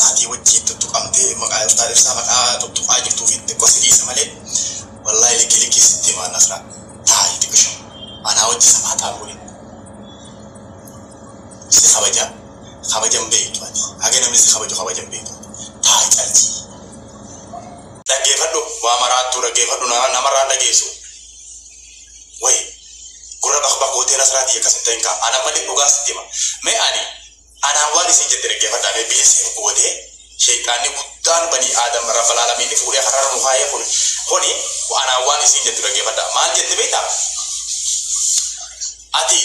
Taatii wajjiin tuttuqamte maqaa iftaa ibsaa maqaa tuttuqaa jirtuu fi xiqqo si dhiisa malee wallahi likki likkii sitti himaa nasra taa'i xiqisho anaa wajji samaa xaan godhin si kabaja kabajan beektu ati haga namni si kabaju kabajan beektu taa'i caltii dhaggeefadhu waa maraattuu dhaggeefadhu namarraan dhageessu way gurra bakbak gootee nasraa tiyya akkas hin ta'in kaa ana malee dhugaa sitti hima mee ani Anaan waan isiin jette dhaggeeffadhaa mee bineensi dhukkubatee sheyxaanni guddaan banii aadam rabbal aalamiinni fuudhee karrarra nu kaayee kun kuni anaan waan isiin jettu dhaggeeffadhaa maal jetti beeytaa ati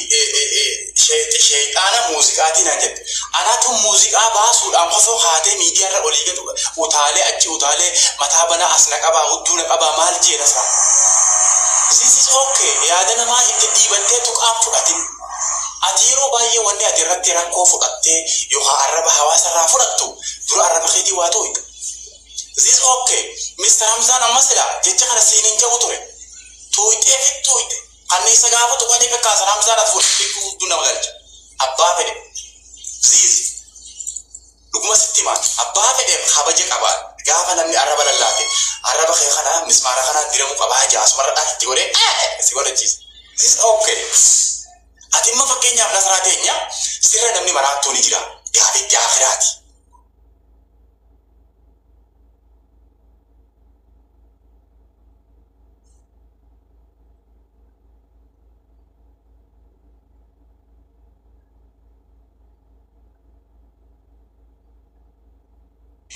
sheyxi sheyxaana muuziqaatii naan jette anatu muuziqaa baasuudhaan kofoo kaatee miidiyaarra olii gad utaalee achi utaalee mataa banaa as na qabaa hudduu na qabaa maal jeena isaa this is okay yaada namaa itti dhiibattee tuqaan fudhatin Ati yeroo baay'ee wanni ati irratti rakkoo fudhattee yookaa arraba hawaasa irraa fudhattu dura arraba keetii waa tuuyxa. This ok Mister Hamzaan amma silaa jecha kana siin hin ja'u ture. Tuuyxee fit tuuyxe. Kanniisa gaafa tuqanii bekkaasan Hamzaan ati fuudhte jechuun gudduu nama galcha. Abbaa fedhe. This. Dhuguma sitti hima, abbaa fedheef kabaja qaba, gaafa namni arraba lallaafte, arraba kee kana mismaara kanaan diramu qaba ja'a asumarra dhah itti godhee eh! si godhachiisa. This is ok. Ati imma fakkeenyaaf nasraa teenya, sirra namni maraattuu ni jira, gaafa itti aakhiraati.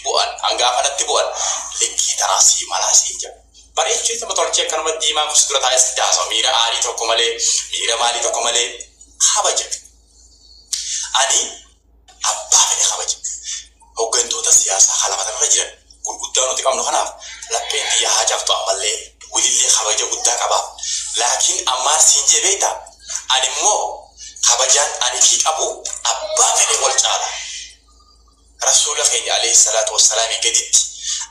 bu'an an gaafa natti bu'an likkii tanaa sii malaa siin jedha bareechuu ittuma tolchee akkanuma diimaan kun si dura taa'ee sitti haasawa miira aarii tokko malee miira maalii tokko malee kabaja ani abbaa fedhe kabaja hoggantoota siyaasaa ka lafa tanarra jiran gurguddaa nuti qabnu kanaaf lapheen tiyya haa cabxu ammallee wilillee kabaja guddaa qabaaf laakiin an maal siin jee beektaa Ani immoo kabajaan ani fi qabu abbaa fedhe wal caala. Rasuula keenya aleeyhi salaatu wassalaamii gaditti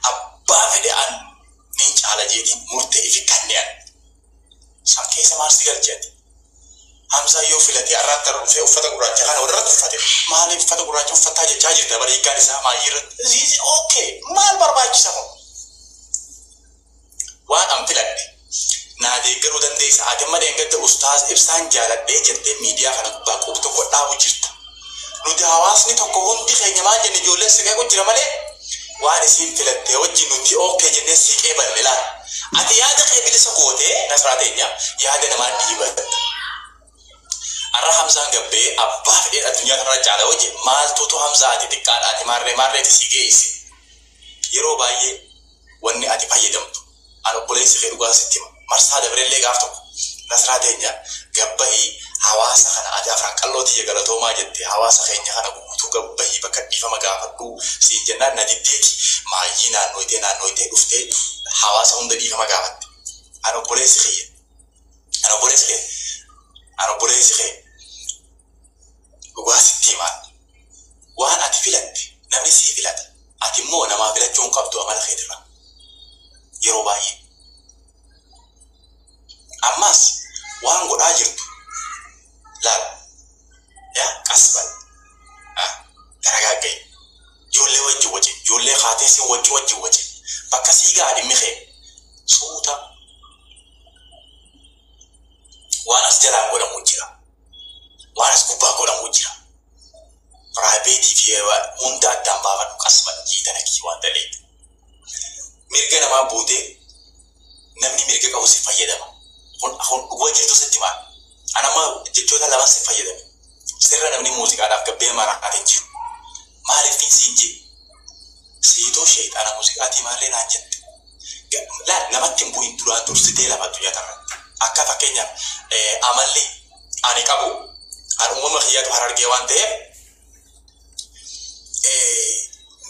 abbaa fedhe an nin caala jeetin murtee ifi kanne an. San keessa maal si galche ati? Hamzaan yoo filatee arraan tana dhufee uffata gurraacha kana walirratti uffate maaliif uffata gurraacha uffattaa jechaa jirta bar hiikkaan isaa maayii irratti? This is OK. Maal barbaachisa kun? Waan an filadhe. Naa deeggaruu dandeessa. Ati amma dheengadda Ustaaz Ibsaan jaaladhee jettee miidiyaa kana gubbaa qub tokko dhaabu jirta. Nuti hawaasni tokko hundi keenya maal jenne ijoolleen si qeequ jira malee waan isiin filattee wajji nuti OK jennee si qeeballe laal. Ati yaada kee bilisa gootee Nasraa teenya yaada namaa dhiibatta. Arra Hamzaan gabbee abbaa fedheen addunyaa tanarra caala yoo jee maaltuutu Hamzaa ati xiqqaadha ati maarree maarreeti si geeyse. Yeroo baayyee. wanni ati fayyadamtu an obboleessi kee dhugaa sitti hima marsaa dabrellee gaaf tokko nasraa teenya gad bahii hawaasa kana ati afran qalloo tiyya galatoomaa jette hawaasa keenya kana guutuu gad bahii bakka dhiifama gaafadhuu siin jennaan na diddeeti maayyii naannooytee naannooytee dhuftee hawaasa hunda dhiifama gaafatte an obboleessi kiyya an obboleessi kee an obboleessi kee Dhugaa sitti himaadha. Waan ati filatte namni sii filata. Ati immoo namaa filachuu hin qabdu amala keetirraa. Yeroo baay'ee. Ammas waan godhaa jirtu laal. Yaa qas bal. A. Taragaagga'i. Ijoollee wajjin wacin. Ijoollee kaatee si waccu wajjin wacin. Bakka sii ga'a dhimmi kee. Suuta. Waan as jalaan godhamu jira. Waan as gubbaa godhamuu jira. Private fi hunda addaan baafadhu qasman jii tana kii waan daleeydu. Mirga namaa buute namni mirga qabu si fayyadama. Kun kun dhuga jirtu sitti maan. An amma jechoota laman si fayyadame. Sirra namni muuziqaadhaaf gabbee maraate hin jiru. Maalif nin siin jee siituu sheyxaana musiqaatii maarree naan jette laal namatti hin bu'in duraan dursitee lafa addunyaa tanarratti akka fakkeenyaaf amalli ani qabu an uumama kiyyatu harargee waan ta'eef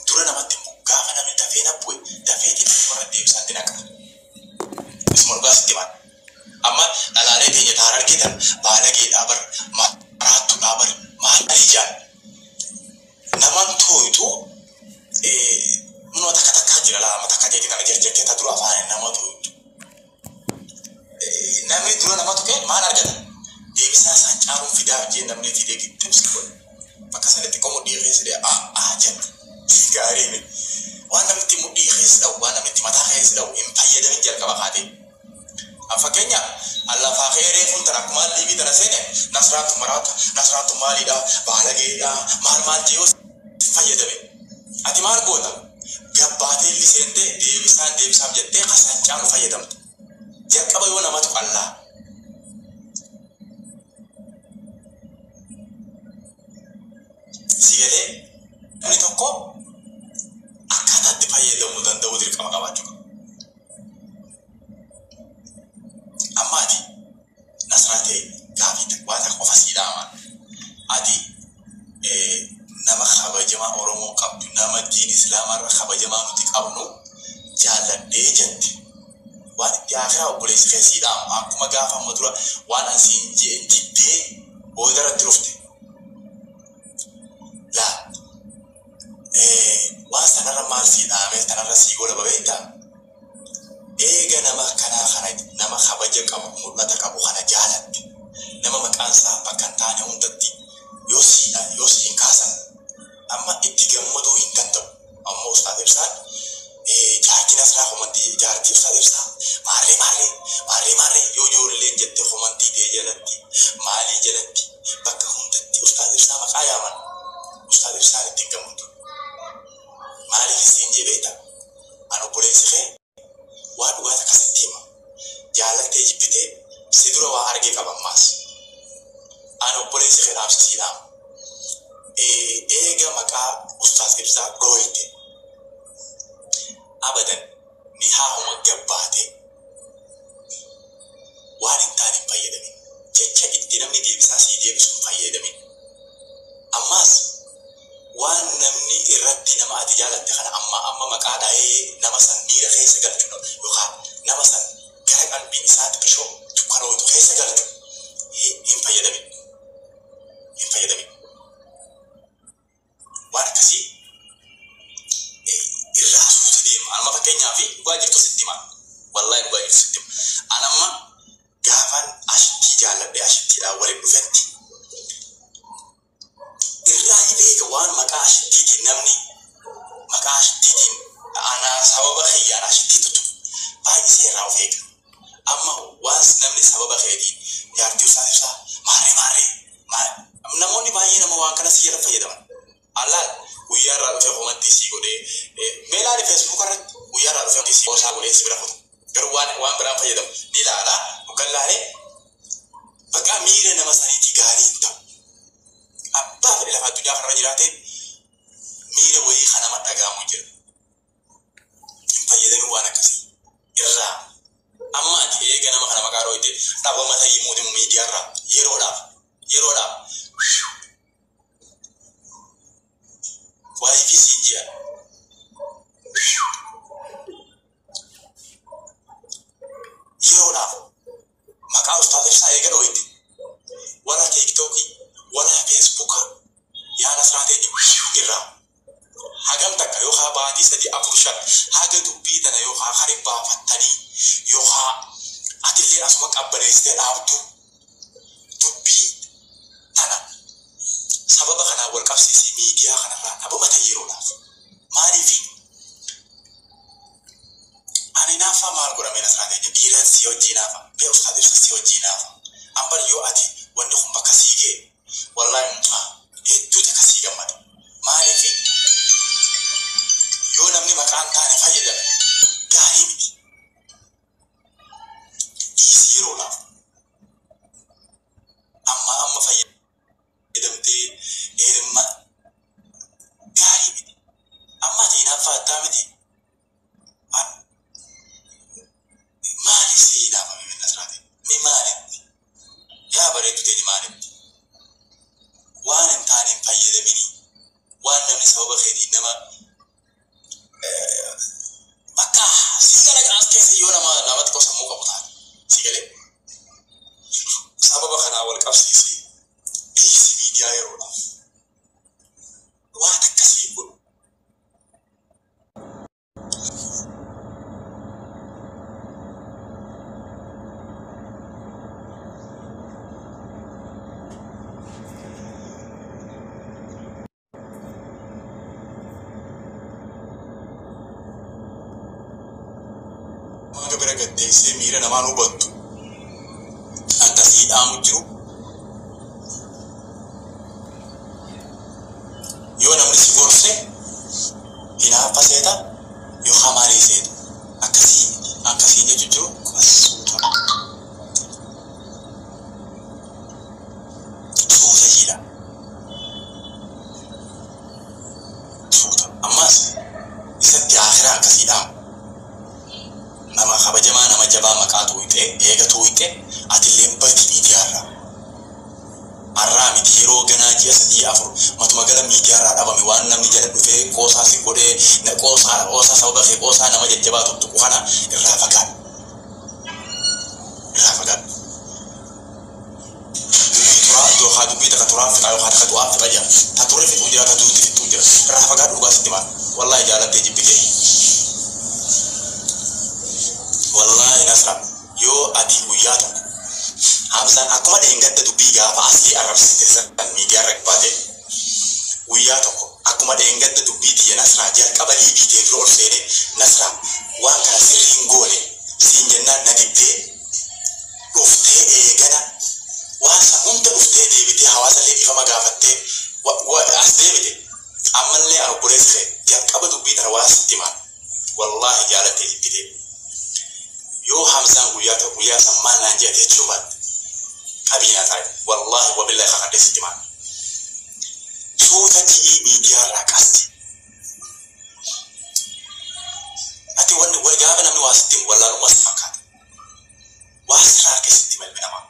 dura namatti hin bu'u gaafa namni dafee na bu'e dafeetiin umarratti deebisaatti naqa isuma dhugaa sitti himaa Amma dhalaalee teenya ta harargee tana baalageedhaa bar maraattudhaa bar maalii jaan naman tooytu minoo takka takkaa jira laa amma takka teeti tana jarjartee ta dura faana nama tooytu namni dura nama tuqee maal argata deebisaa isaan caaluun fidaaf jee namni fidee gixxibsi godhe bakka sanitti qomu dhiirreessi dee a a jette gaarii mi waan namni itti mudhii keessa dha'u waan namni itti mataa keessa dha'u hin fayyadamin jalqaba kaatee An fakkeenyaaf an lafaa ka'ee reefuu intala akkumaan liivii tana seene nasraattu maraata nasraattu maaliidha baalageedha maal maal jee yoo si fayyadame ati maal goota gabbaatee li seente deebisaan deebisaaf jettee ka san caalu fayyadamta jalqaba yoo namatu qallaa si galee namni tokko akkaataa itti fayyadamuu danda'uu dirqama qabaachuu qaba. Amma ati nasraa ta'e gaafii takbaa takka qofa sii dhaama. Ati nama kabajamaa Oromoon qabdu, nama diin Islaamaa irra kabajamaa nuti qabnu jaalladhee jette. Waan itti aakiraa obboleessi kee sii dhaamu akkuma gaafa amma dura waan an siin jeen diddee booda irratti dhufte. Laa. waan sanarra maal sii dhaamee tanarra sii golaba beektaa? Eega nama akkanaa kana nama kabaja qabu mul'ata qabu kana jaalatte nama maqaan isaa bakka hin taane hundatti yoo sii dha yoo sii hin kaasan amma itti gammaduu hin danda'u amma ustaad ibsaan jaartii nasraa komantii jaartii ustaad ibsaa maarree maarree maarree maarree yoo ijoolleen jette komantii tee jalatti maalii jalatti bakka hundatti ustaad ibsaa maqaa yaaman Ustaaz ibsaan itti hin gammadu maaliif siin jee beekta an obboleessi kee waa dhugaa takka sitti hima jaalaltee jibbitee si dura waa argee qaba ammaas an obboleessi kee dhaamsa sii dhaama eega maqaa ustaaz ibsaa dhooyte abadan nikaahuma gabbaate waan hin taane hin fayyadamin. Jecha itti namni deebisaa sii deebisu hin fayyaadamin. Ammaas waan namni irratti nama ati jaalatte kana ammaa amma maqaa dhahee nama san miira keessa galchu dha yookaa nama san gara qalbiin isaatti bishoo dukkanooytu keessa galchu hi hin fayyadamin hin fayyadamin. waan akkasii irraa hasuutu deema anuma fakkeenyaa fi dhugaa jirtu sitti hima wallahi dhugaa jirtu sitti hima an amma gaafaan ashittii jaalladhe ashittiidhaan waliin dhufetti irraa ni beeka waan maqaa ashittiitiin namni maqaa ashittiitiin anaa sababa kiyyaan ashittii tutu baay'isee irraa of eega amma waan namni sababa keetiin jaartii isaa ibsaa maarree maarree Maal. Namoonni baay'ee nama waan kana si jala fayyadaman. Al laal guyyaa irraa dhufee komantii sii godhee mee laali facebook irratti guyyaa irraa dhufee komantii sii qoosaa godhee si bira kuta. Garuu waan waan biraan fayyadamu ni laala hoggan laalee baqaa miira nama saniitii gaarii hin ta'u. Abbaa fedhe lafa addunyaa kanarra jiraatee miira wayii kan nama dhaga'amu jira. fayyadamii waan akkasii irraa amma ati eega nama kana maqaa dhooyte dhabama ta'ii muudimu miidiyaa irraa yeroodhaaf yeroodhaaf waayii fi siin jira yeroodhaaf Maqaa ustaaz ibsaa eega dhooyte wala tiktokii wala fesbuka yaa nasraa teenya wishuu irraa hagam takka yookaa baatii sadii afur shan haga dubbii tana yookaa kari baafattanii yookaa atilleen asuma qabbaneessite dhaabdu dubbii tana sababa kanaan wal qabsiisii miidiyaa kanarraa dhabama ta'i yeroodhaaf maaliifi An inaaffaa maal godha mee nasraa keenya dhiiran sii hojjii inaafa mee ustaaz ibsa sii hojjii inaafa an bar yoo ati wanni kun bakka sii gee wallahi mucaa hedduu takka sii gammada maaliifi yoo namni maqaa hin taane fayyadame gaarii miti dhiisi yeroo laaf ammaa amma fayyadame. jedhamtee heerumma gaarii miti amma ati hinaaffaa attaa miti an maali si hinaafame min nasraati ni maalitti yaa bareeddu tee ni maalitti waan hin taane hin fayyadamini waan namni sababa keetiin nama Bakka si kana as keessa yoo nama nama xiqqoo sammuu qabu taate si galee sababa kanaa wal qabsiisee dhiisi miidiyaa yeroodhaaf waan akkasii hin godhu. hanga bira gad deebisee miira namaan hubattu akka sii dhaamu jiru yoo namni si gorse hinaaffa seeta yoo hamaalee seeta akkasii akkasii jechu jiru as suuta tajaajila tuuta. Ammaas isatti aakhiraa akkasii dhaamu. Nama kabajamaa nama jabaa maqaa tuuyxee eega tuuyxe atilleen badi miidiyaarraa. Arraa miti yeroo ganaa ji'a sadii afur matuma gala miidiyaarraa dhabame waan namni jala dhufee qoosaa si godhee na qoosaadha qoosaa sababa kee qoosaa nama jajjabaa tuqtuqu kana irraa fagaadhu. Irraa fagaadhu. Dubbiin turaa yookaa dubbii taka turaan fixaa yookaa taka du'aan fixa jira. Ta ture fixuu jira ta duutti fixxuu jira. Irraa fagaadhu dhugaa sitti himaa. Wallaahi jaalattee jibbitee. Wallaahi Nasra yoo ati guyyaa tokko Hamzaan akkuma dheengadda dubbii gaafa Asiyee arrabsite san miidiyaa irra baate guyyaa tokko akkuma dheengadda dubbii tiyya Nasraa jalqaba liivii tee dura ol seenee Nasraa waan kana sirrii hin goone siin jennaan na diddee dhuftee eegana waan san hunda dhuftee deebitee hawaasallee dhiifama gaafattee as deebite ammallee an obboleessi kee jalqaba dubbii tana waan sitti himaan wallaahi jaalattee jibbitee yoo hamzaan guyyaa tokko guyyaa san maal naan jedha jechuu baatte qabii na taa'i wallaahi wabillaahi kakadhee sitti himaan suuta ji'ii miidiyaa irraa qasti ati wal gaafa namni waa sitti himu wallaalummaa si fakkaata Waa sirra arke sitti hima ilmi namaa.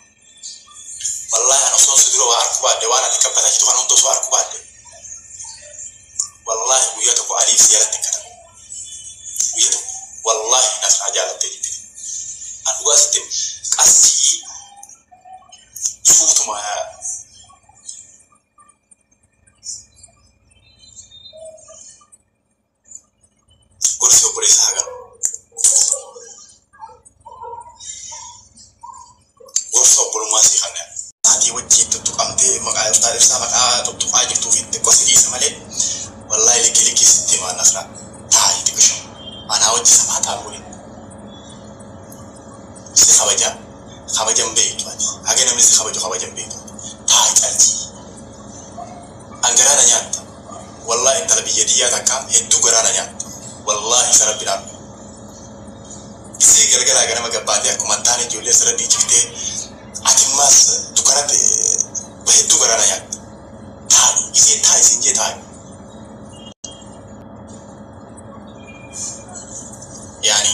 Wallahi an osoon si dura waa arku baadhe waan ati qabbataachitu kana hunda osoo arku baadhe wallahi guyya tokko aliin si jalatti hin katabu guyya tokko wallahi nas naa jaalatte jibbite an dhugaa sitti hima qassii suutuma Gorsi obboleessa haqa. Gorsa obbolummaa sii kanna. Taatii wajjiin tuttuqamtee maqaa iftaa ibsaa maqaa tuttuqaa jirtuufi xiqqo si dhiisa malee wallaahi likkii likkii sitti himaa nasra taa'ii xiqisho anaa wajji safaa taa'u waliin si kabaja kabajan beektu ati haga namni si kabaju kabajan beektu ati taa'i calchii An garaa na nyaatte wallahi intala biyya tiyyaa takka hedduu garaa na nyaatte wallahi isa rabbi dhaabbe dhisee galgalaa ganama gabbaatee akkuma hin taane ijoollee sirra dhiichiftee ati immaas dukkanatti ba hedduu garaa na nyaatte taa'i isiin taa'i siin jee taa'i yaani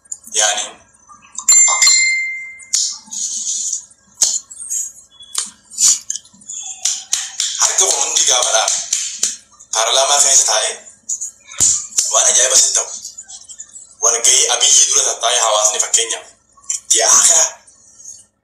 Yani. Harki kun hundi gaafadhaa paarlaamaa keessa taa'ee waan ajaa'iba sin ta'u. Walgahii abiyyi dura tattaa'ee hawaasni fakkeenyaaf ji'a akira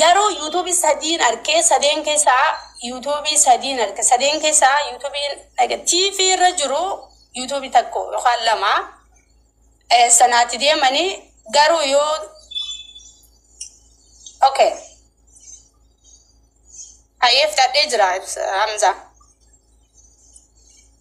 Garuu YouTube sadiin arke sadeen keessaa YouTube sadiin arke sadeen keessaa YouTube like TV irra jiru YouTube takko yookaan lama eh, sanaati deemani garuu yoo okay hayeef dadhee jira ibsa Hamza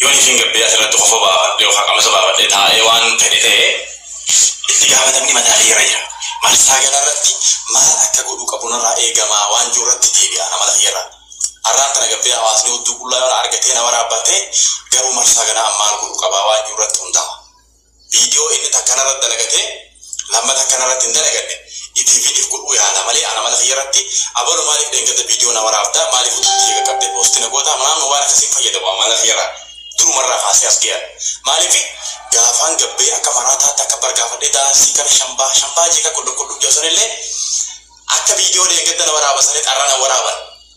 Yoon ishiin gabbee asirratti kofoo baafadhee yookaan qamisa baafadhee taa'ee waan fedhe ta'e itti gaafatamni mataa kiyyarra jira. Marsaa galaa irratti maal akka godhuu qabu narraa eegama waan jiru irratti deebi'a amala kiyyarraa. Arraan tana gabbee hawaasni odduu qullaa yoo na argatee na waraabbatee garuu marsaa ganaa an maal godhuu qaba waan jiru irratti hundaa'a. Video inni takka narratti dalagate lammata akka narratti hin dalaganne itii fidif godhuu yaala malee ana mana kiyyarratti abalu maalif dheengadda video na waraabda maalif hojii tiyya qaqqabde posti na goota maamnu waan akkasi hin fayyadamu an mana kiyyarraa durumarraa kaasee as gayan maalif gaafaan gabbee akka maraataa takka bar gaafadhe daansii kana shambaa shambaa jeeqa qulluqqulluu ja'u sanillee akka video dheengadda na waraaba sanit arra na waraaban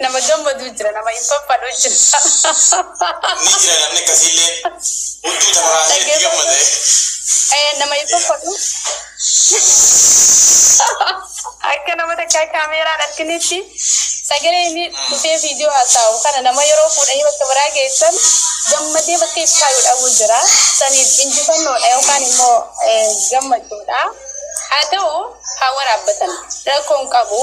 Nama gammadu jira nama hin faffadhu jira. Ni jira namni akkasiillee hunduu tanarraa hafee itti gammade. Ee nama hin faffadhu. Akka nama takkaa kaameeraan arginitti sagalee inni dhufee viidiyoo haasa'u kana nama yeroo fuudhanii bakka biraa geessan gammadee bakka itti kaayuu dhabuu jira. Saniif injifannoodha yookaan immoo gammachuudha. Haa ta'u haa waraabbatan rakkoon qabu.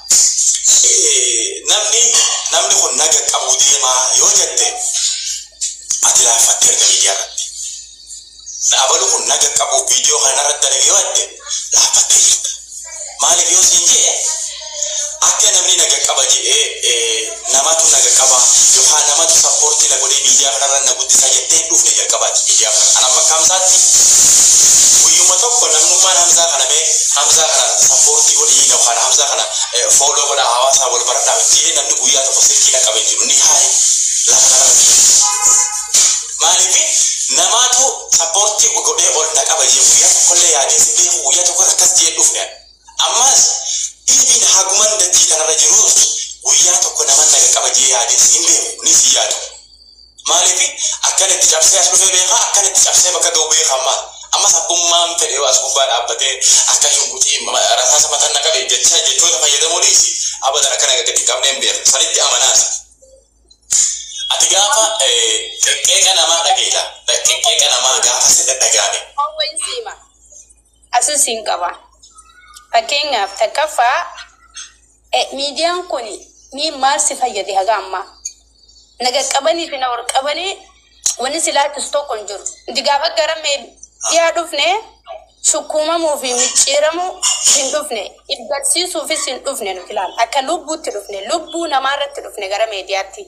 Namni namni kun naga qabuu deemaa yoo jette ati laaffatte erga miidiyaa irratti. Dhaabalu kun naga qabuu viidiyoo kana irratti dalage yoo jette laaffattee jirta. Maaliif yoo siin jee akka namni naga qaba jedhee Namatu naga qaba yokaa namatu sapporti na godhee midiyaa kanarra na guddisa jettee hin dhufne jalqabaati midiyaa kana an amma akka hamzaatti guyyuma tokko namnummaan hamzaa kana mee hamzaa kana sapporti godhii yokaan hamzaa kana follow godhaa hawaasaa wal baradhaa miti jedhee namni guyyaa tokko silkii na qabee hin jiru ni haayi lafa kanarra jiru maaliifi namaatu sapporti godhee ol na qaba jedhee guyyaa tokkollee yaadee si beeku guyyaa tokko akkas jedhee hin dhufne an. Ammaas pilviin haguman dachii tanarra jiruus guyyaa tokko naman na qaqqaba jedhee yaadees hin beeku, kunis hin yaadu. Maaliifi akkana itti cabsee as dhufee beeka, akkana itti cabsee bakka ga'u beeka ammaa. Ammas abbummaan fedhe yoo as gubbaa dhaabbatee akka shunguxii rasaasa matan na qabe jechaa jechoota fayyadamuu dhiisi abadan akka na gaggadi hin qabneen beeka. Sanitti amanaas. Ati gaafa qeqqeeqa namaa dhageeta, qeqqeeqa namaa gaafa si dhadhagaame. Waan wayiin si hima. Asin sin qaba. Fakkeenyaaf takkaffaa miidiyaan kun mii maal si fayyade haga ammaa? Na qaqqabanii fi na ol qabanii wanni si laachisu tokko hin jiru. Nuti gaafa gara miidiyaa dhufne sukkuumamuu fi micciiramuu hin dhufne. If barsiisuufis hin dhufne nuti laal. Akka lubbuutti dhufne. Lubbuu namaa irratti dhufne gara miidiyaatti.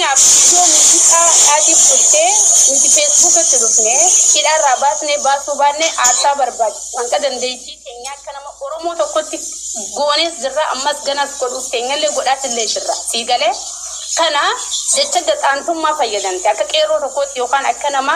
Fakkeenyaaf viidiyoo muuziqaa Aadif bultee nuti Facebook itti dhufne hidhaa irraa baasnee baasuu baanne aarsaa barbaade hanga dandeettii teenyaa akka nama Oromoo tokkotti goonees jirra ammas ganas godhuuf teenyallee godhaas illee jirra sii galee kana jecha gaxaantummaa fayyadamte akka qeerroo tokkootti yookaan akka nama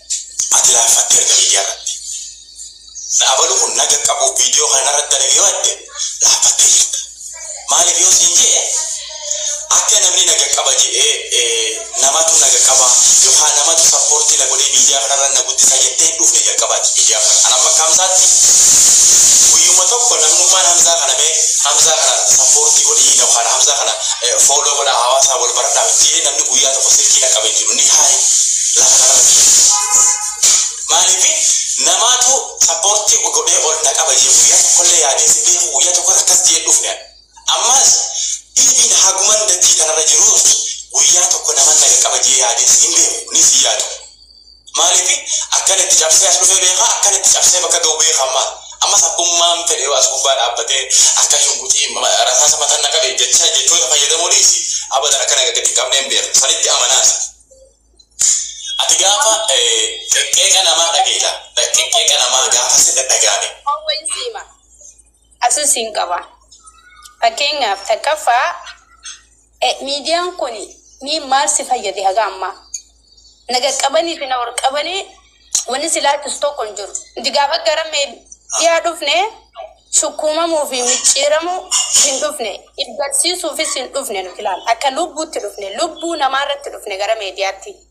Ati laaffatte erga miidiyaa irratti Dhaabalu kun na qaqqabuuf viidiyoo kana narratti dalage yoo jette laaffattee jirta. Maaliif yoo siin je'e akka namni na qaqqaba je'ee namatu na qaqqaba yookaan namatu sappoortii na godhee miidiyaa kana irra na guddisa jettee hin dhufne jalqaba ati miidiyaa kana. An amma akka Hamzaatti guyyuma tokko namnummaan Hamzaa kana mee Hamzaa kana sappoortii godhii yookaan Hamzaa kana Follow godhaa hawaasaa wal baradhaa Mikkiyee namni guyyaa tokko silkii dhaqqabe hin jiru ni haayi lafa kanarratti maaliifi namaatu support godhee ol na qaba jee guyyaa tokkollee yaadee si beeku guyyaa tokko akkas jee dhufne ani ammaas even haguman dachii kanarra jiruus guyyaa tokko naman na qaqqaba jee yaadee si hin beeku ni si yaadu Maaliif akkan itti cabsee as dhufe beeka, akkan itti cabsee bakka ga'u beeka ammaas. Ammas abbummaan fedhe yoo as gubbaa dhaabbatee akka shunkuxii rasaasa matan na qabe jecha jechoota fayyadamuu dhiisi abadan akka na gaggadi hin qabneen beeka. Sanitti amanaas. Ati gaafa qeqqeeqa namaa dhageeta, qeqqeeqa namaa gaafa si dhadhaga'ame. Waan wayiin si hima. Asin siin qaba. Fakkeenyaaf takkaffaa miidiyaan kun mee maal si fayyade haga ammaa? Na qaqqabanii fi na ol qabanii wanni si laachisu tokko hin jiru. Nuti gaafa gara miidiyaa dhufne sukkuumamuu fi micciiramuu hin dhufne. If barsiisuufis hin dhufne nuti laal. Akka lubbuutti dhufne. Lubbuu namaa irratti dhufne gara miidiyaatti.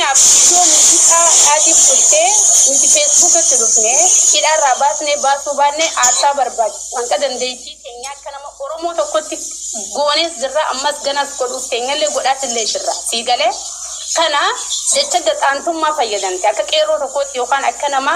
Fakkeenyaaf viidiyoo muuziqaa Dhaadhiif turte nuti Facebook itti dhufne hidhaa irraa baasnee baasuu baanne aarsaa barbaad hanga dandeettii teenyaa akka nama Oromoo tokkotti goonees jirra ammas ganas godhuuf teenyallee godhaas illee jirra. Sii galee? Kana jecha gaxaantummaa fayyadamte akka qeerroo tokkootti yookaan akka nama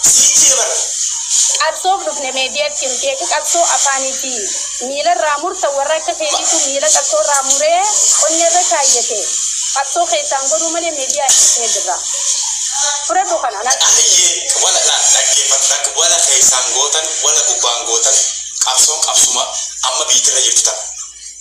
jijjiiraman. Qabsoof dhufne mediatti nuti eega qabsoo afaanii fi miilarraa murta warra akka keetiitu miila qabsoorraa muree qonneerra kaayyate qabsoo keessaan godhuu malee media hin dhufne jirra. Fudhadhu kana. Qaaliyyee wala na dhaggeeffattan wala keessaan gootan wala gubbaan gootan qabsoon qabsuma amma biytirra jirtu tana.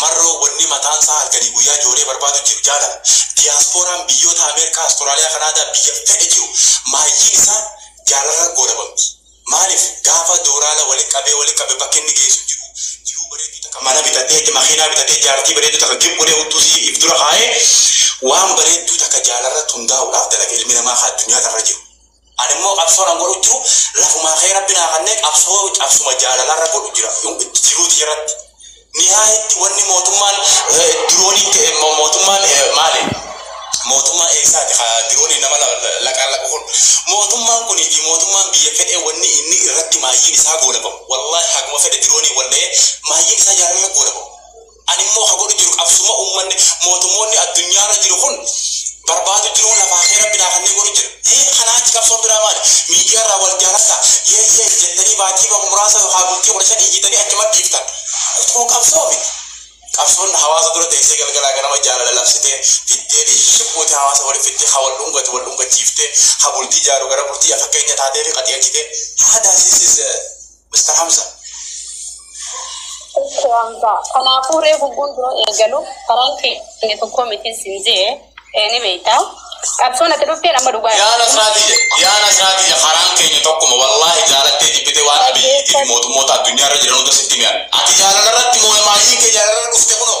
Marroo wonni mataan isaa halkanii guyyaa joolee barbaadu jiru jaalala. Diyaaspooraan biyyoota Ameerikaa, Australia, Canada biyya fedhe jiru maayyiin isaa jaalarra goolabamti. Maalif gaafa dooraala wali qabee wali qabe bakka inni geessu hin jiru. Jiruu bareedduu takka mana bitadhee itti makiinaa bitatee jaartii bareedduu takka gib godhee uttuu isii if dura kaayee waan bareedduu takka jaalarratti hundaa'uudhaaf dalaga ilmi namaa ka addunyaa tanarra jiru. Ani immoo qabsoon an godhu jiru lafumaa kee rabbi naa kannee qabsoo cabsuma jaalalaa irra godhu jira jiruu tiyaratti mihaa itti wanni mootummaan diroonii ta'e mootummaan maali mootummaa eessaati ka diroonii nama laqaan laqu kun mootummaan kun fi mootummaan biyya fedhee wanni inni irratti maayyiin isaa goolabamu wallaahi haguma fedhe diroonii wal dha'ee maayyiin isaa jaalalaa goolabamu Ani immoo ka godhu jiru qabsuma ummanni mootummoonni addunyaa irra jiru kun barbaadu jiruu lafaa kee rabbi naa kennee godhu jira. Hii kanaa achi qabsoon biraa maali? Miidiyaa irraa wal jaaladhaa, yay yay jettanii baatii bahu muraasa yookaa bultii 15 iyyitanii achumatti dhiiftan. Kun qabsoo miti. Qabsoon hawaasa dura teessee galgalaa ganama jaalala labsitee, fiddee dhiishi buute hawaasa wali fiddee, ka wal dhungatu wal dhungachiiftee, ka bultii jaaru gara bultii fakkeenya taateefi qaceelchitee. Haadaa this is. Mr. Hamza. Mr. Hamza. Kanaafuu ree gugguun dura eegalu karaan keenya tokko miti sin jee ee, ni beekta. Qabsoon ati dhufteen amma dhugaa Yaa Nasraatiyya, yaa Nasraatiyya karaan keenya tokkuma wallaahi jaalattee jibbite waan Abiyyiitii fi mootummoota addunyaa irra jiran hunda sitti hime ani. Ati jaalala irratti mooye maayiin kee jaalala irra dhufte kunoo.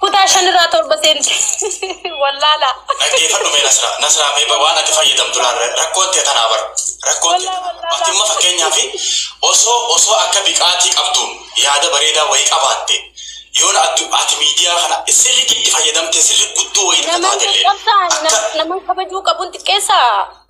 Kutaa shan irraa torba seente wallaala. Dhaggeeffadhu mee Nasraa. Nasraa mee ba- waan ati fayyadamtu laal ra- rakkoon tee tanaa bar. Rakkoon tee tanaa bar. Ati amma fakkeenyaaf osoo osoo akka biqaatii qabduun yaada bareedaa wayii qabaatte yoona addu- ati miidiyaa kana sirriitti itti fayyadamtee sirrii guddoo wayii takka Naman taatellee qaqqabsaan, akka nam- naman kabajuu qabun xiqqeessaa?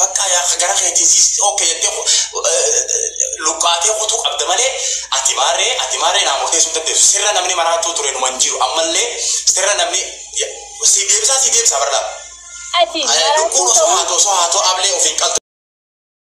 Baqqaa yaa ka gara keetiin siisti ok jettee luphaatee kutuu qabda malee ati maarree ati maarree naa murteessuu hin dandeessu sirra namni maraachuu ture numa hin jiru ammallee sirra namni siif deebisaa sii deebisaa bar laa Ati lubbuun maraachuu osoo ta'uu. haatoo osoo haatoo ablee ofiin qaltu